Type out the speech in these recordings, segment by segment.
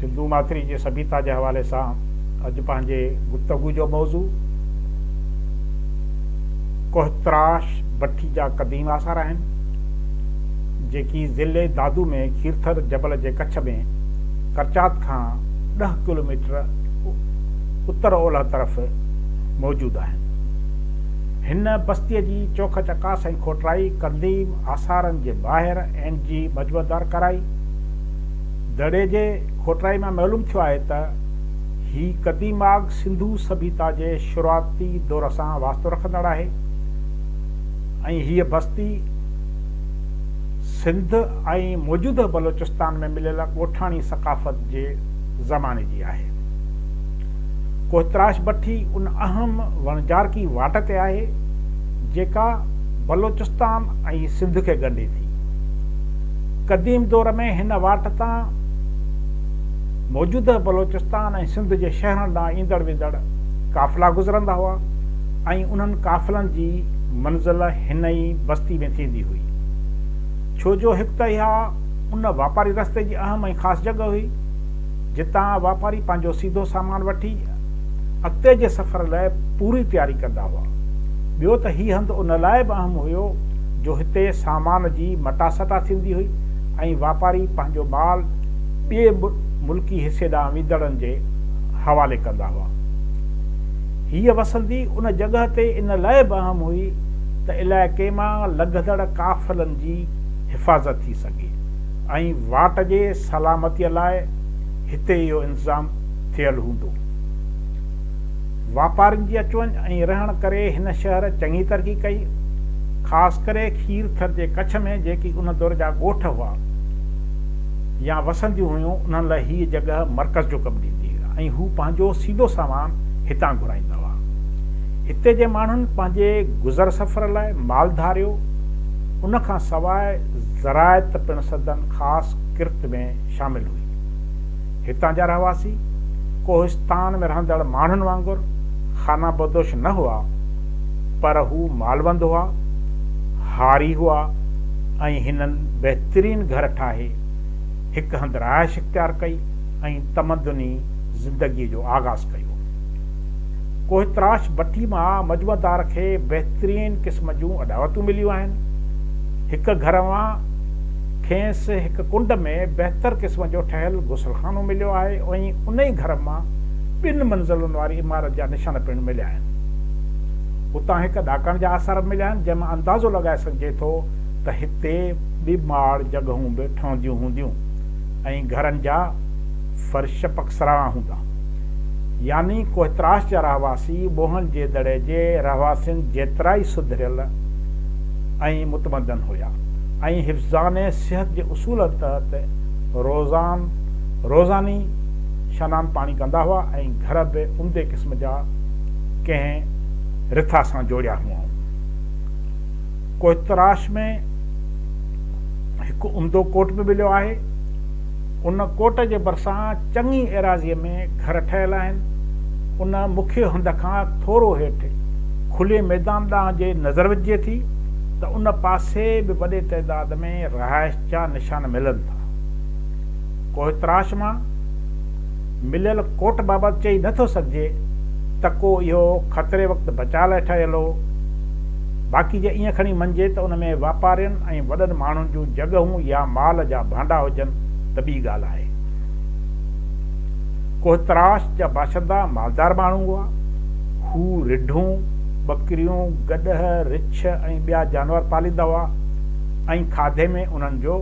سنڌو ماٿري جي سڀيتا جي حوالي سان اڄ پنهنجي گفتگو جو موضوع ڪوهتراش بٺي جا قديم آثار آهن جيڪي ضلعي دادو ۾ کيرٿر جبل جي ڪڇ ۾ ڪرچات کان ڏهه ڪلوميٽر اتر اولهه طرف موجود آهن هن بستيء جي چوک چڪاس ۽ کوٽرائي، قديم آثارن جي ٻاهر، اين. جي مجمعدار ڪرائي. دڙي جي کوٽرائي مان معلوم ٿيو آهي ته هي قديم آگ سنڌو سڀيتا جي شروعاتي دور سان واسطو رکندڙ آهي ۽ هيء بستي سنڌ ۽ موجوده بلوچستان ۾ مليل ڳوٺاڻي ثقافت جي زماني جي آهي. ڪوهتراش بٺي ان اهم وڻجارڪي واٽ تي آهي، جيڪا بلوچستان ۽ سنڌ کي ڳنڍي ٿي. قديم دور ۾ هن واٽ تان موجوده بلوچستان ۽ سنڌ جي شهرن ڏانهن ايندڙ ويندڙ قافلا گذرندا هئا ۽ انهن قافلن جي منزل هن ئي بستي ۾ ٿيندي هئي. ڇو جو هڪ ته اها ان واپاري رستي جي اهم ۽ خاص جڳهه هئي، جتان واپاري پنهنجو سيڌو سامان وٺي اڳتي جي سفر لاء پوري تياري ڪندا هئا. ٻيو ته هي هنڌ ان لاء به اهم هيو جو هتي سامان جي مٽاسٽا ٿيندي هئي ۽ واپاري پنهنجو مال ٻئي ملڪي حصي ڏانهن ويندڙن جي حوالي ڪندا هئا. هيء وسندي ان جڳهه تي ان لاء به اهم هئي ته علائقي مان لنگهندڙ قافلن جي حفاظت ٿي سگهي. ۽ واٽ جي سلامتيء لاء هتي اهو انتظام ٿيل هوندو. واپارين جي اچ وڃ ۽ رهڻ ڪري هن شهر چڱي ترقي ڪئي. خاص ڪري کير ٿر جي ڪڇ ۾ جيڪي ان دور جا ڳوٺ هئا يا وسنديون هيون انهن لاء هيء جڳهه مرڪز جو ڪم ڏيندي هئي ۽ هو پنهنجو سيڌو سامان هتان گهرائيندا هئا. هتي جي ماڻهن پنهنجي گذر سفر لاء مالڌاريو ان کان سواء زراعت پڻ سندن خاص ڪرت ۾ شامل هئي. هتان جا رهواسي، ڪوهستان ۾ رهندڙ ماڻهن وانگر خانه بدوش نه هئا، پر هو مالوند هئا، هاري هئا ۽ هنن بهترين گهر ٺاهي، هڪ هنڌ رهائش اختيار ڪئي ۽ تمدني زندگيء جو آغاز ڪيو. ڪوهتراش بٺي مان مجمع دار کي بهترين قسم جون اڏاوتون مليون آهن. هڪ گهر مان کينس هڪ ڪنڊ ۾ بهتر قسم جو ٺهيل غسل خانو مليو آهي ۽ انهي گهر مان ٻن منزلن واري عمارت جا نشان پڻ مليا آهن. اتان هڪ ڏاڪڻ جا آثار به مليا آهن جنهن مان اندازو لڳائي سگهجي ٿو ته هتي ٻي ماڙ جڳهون به ٺهنديون هونديون ۽ گهرن جا فرش پڪسراڻا هوندا. يعني ڪوهتراش جا رهواسي موهن جي دڙي جي رهواسين جيترائي سڌريل ۽ متمدن هيا ۽ حفظان صحت جي اصولن تحت روزان روزاني شنان پاڻي ڪندا هئا ۽ گهر به عمدي قسم جا ڪنهن رٿا سان جوڙيا هئائون. ڪوهتراش ۾ هڪ عمدو ڪوٽ به مليو آهي. ان ڪوٽ جي ڀرسان چڱي ايراضيء ۾ گهر ٺهيل آهن. ان مکيه هنڌ کان ٿورو هيٺ کلي ميدان ڏانهن جي نظر وجهجي ٿي ته ان پاسي به وڏي تعداد ۾ رهائش جا نشان ملن ٿا. ڪوهتراش مان مليل ڪوٽ بابت چئي نه ٿو سگهجي ته ڪو اهو خطري وقت بچاء لاء ٺهيل هو، باقي جي ائين کڻي مڃجي ته ان ۾ واپارين ۽ وڏن ماڻهن جون جڳهون يا مال جا ڀانڊا هجن ته ٻي ڳالهه آهي. ڪوهتراش جا باشندا مالدار ماڻهو هئا. هو رڍون، ٻڪريون، گڏهه، رڇ ۽ ٻيا جانور پاليندا هئا ۽ کاڌي ۾ انهن جو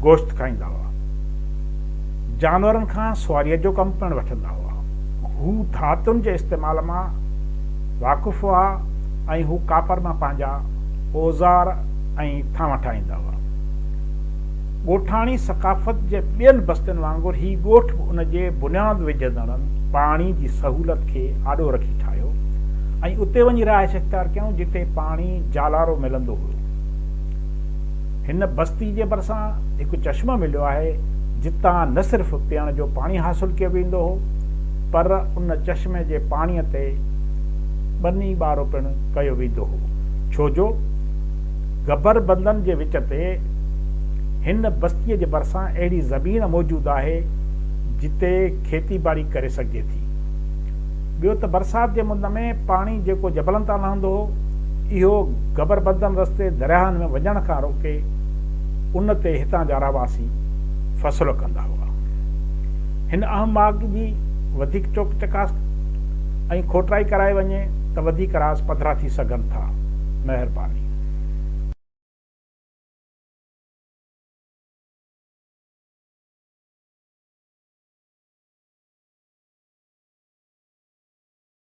گوشت کائيندا هئا. جانورن کان سواريء جو ڪم پڻ وٺندا هئا. هو ڌاتن جي استعمال مان واقف هئا. ۽ هو ڪاپر مان پنهنجا اوزار ۽ ٿانو ٺاهيندا هئا. ڳوٺاڻي ثقافت جي ٻين بستين وانگر هي ڳوٺ به ان جي بنياد وجهندڙن پاڻي جي سهولت کي آڏو رکي ٺاهيو ۽ اتي وڃي رهائش اختيار ڪيائون جتي پاڻي جالارو ملندو هيو. هن بستي جي ڀرسان هڪ چشمو مليو آهي جتان نه صرف پيئڻ جو پاڻي حاصل ڪيو ويندو هو پر ان چشمي جي پاڻي تي ٻني ٻارو پڻ ڪيو ويندو هو، ڇو جو گبر بندن جي وچ تي هن بستيء جي ڀرسان اهڙي زمين موجود آهي، جتي کيتي ٻاڙي ڪري سگهجي ٿي. ٻيو ته برسات جي مند ۾ پاڻي جيڪو جبلن تان لهندو هو، اهو گبر بندن رستي درياهن ۾ وڃڻ کان روڪي، ان تي هتان جا رهواسي فصل ڪندا هئا. هن اهم ماڳ جي وڌيڪ چوڪ چڪاس ۽ کوٽرائي ڪرائي وڃي ته وڌيڪ راز پڌرا ٿي سگهن ٿا. مهرباني.